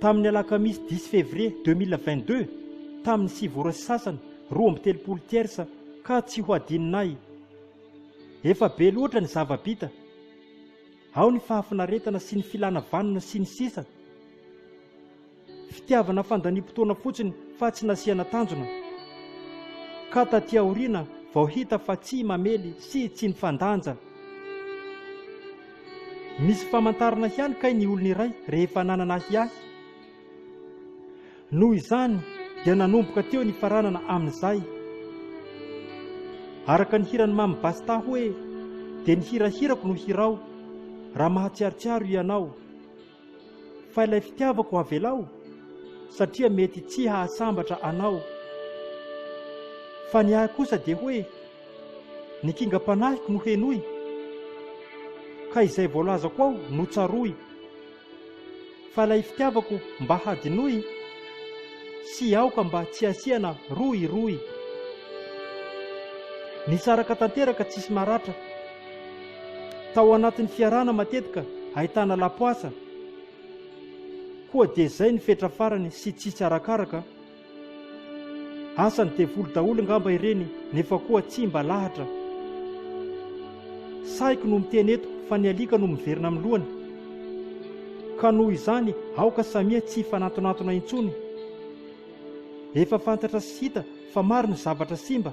Tamin'ny alakamisy dix février deux mille vingt deux, tamin'ny sivy ora sy sasany, roa amby telopolo tiersa, ka tsy ho adinona ahy. Efa be loatra ny zava-bita. Ao ny fahafinaretana sy ny filana vanona sy ny sisa Fitiavana fandaniam-potoana fotsiny fa tsy nasiana tanjona. Ka taty aoriana vao hita fa tsy mamely sy tsy nifandanja. Misy famantarana ihany kay ny olona iray rehefa nanana ahiahy. Noho izany dia nanomboka teo ny faranana amin'izay. Araka ny hiran'i Mamy Basta hoe dia ny hirahirako no hirao raha mahatsiarotsiaro ianao. Fa ilay fitiavako avelao satria mety tsy hahasambatra anao. Fa ny ahy kosa dia hoe ny kingam-panahiko no henoy ka izay voalazako ao no tsaroy. Fa ilay fitiavako mba hadinoy sy aoka mba tsy asiana rohirohy. Nisaraka tanteraka tsisy maratra. Tao anatin'ny fiarahana matetika ahitana lapoasa koa dia izay ny fetra farany sy tsitsy arakaraka. Asan'ny devoly daholo ngamba ireny nefa koa tsy mba lahatra. Sahiko no miteny eto fa ny alika no miverina amin'ny lohany. Ka noho izany aoka samia tsy hifanantonantona intsony. Efa fantatra sy hita fa maro ny zavatra simba.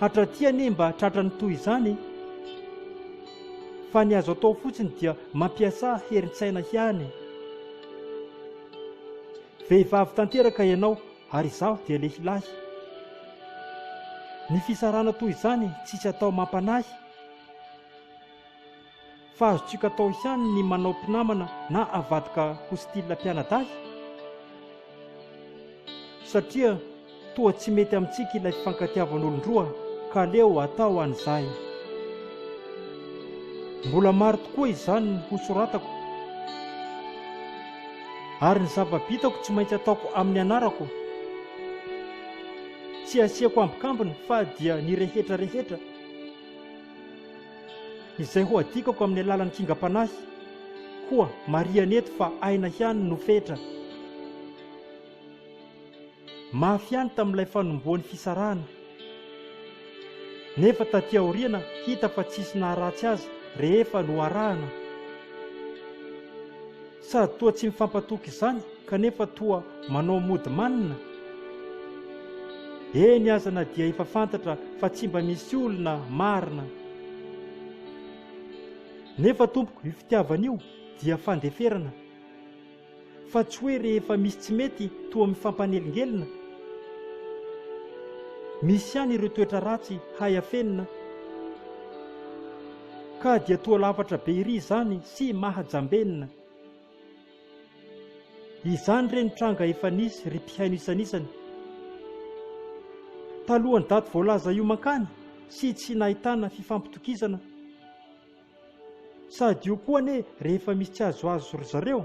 Hatraty anie mba tratran'ny toy izany e! Fa ny azo atao fotsiny dia mampiasà herin-tsaina ihany. Vehivavy tanteraka ianao ary izaho dia lehilahy. Ny fisarahana toy izany tsisy atao mampanahy. Fa azontsika atao ihany ny manao mpinamana na avadika ho style mpianadahy? Satria toa tsy mety amintsika ilay fifankatiavan'olon-droa ka aleo atao an'izay. Mbola maro tokoa izany ho soratako. Ary ny zava-bitako tsy maintsy ataoko amin'ny anarako. Tsy asiako ambikambiny fa dia ny rehetra rehetra. Izay ho adikako amin'ny alalan'ny kingam-panahy, koa marihana eto fa aina ihany no fetra. Mafy ihany tamin'ilay fanombohan'ny fisarahana. Nefa taty aoriana hita fa tsisy naharatsy azy rehefa noharahana. Sady toa tsy mifampatoky izany kanefa toa manao mody manina? Eny aza na dia efa fantatra fa tsy mba misy olona marina. Nefa tompoko io fitiavana io dia fandeferana fa tsy hoe rehefa misy tsy mety toa mifampanelingelina. Misy ihany ireo toetra ratsy hay afenina. Ka dia toa lafatra be ery izany sy mahajambenina. Izany re ny tranga efa nisy ry mpihaino isanisany. Talohan'ny daty voalaza io mankany sy tsy nahitana fifampitokisana. Sady io koa anie rehefa misy tsy azoazo ry zareo.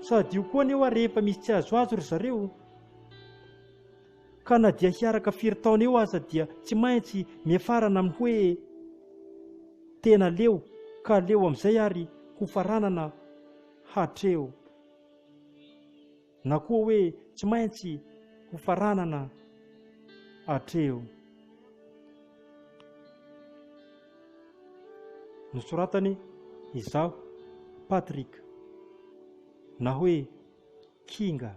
Sady io koa anie hoa rehefa misy tsy azoazo ry zareo. Ka na dia hiaraka firy taona eo aza dia tsy maintsy miafarana amin'ny hoe tena leo ka aleo amin'izay ary ho faranana hatreo na koa hoe tsy maintsy ho faranana hatreo. Nosoratany izaho Patrick na hoe Kinga.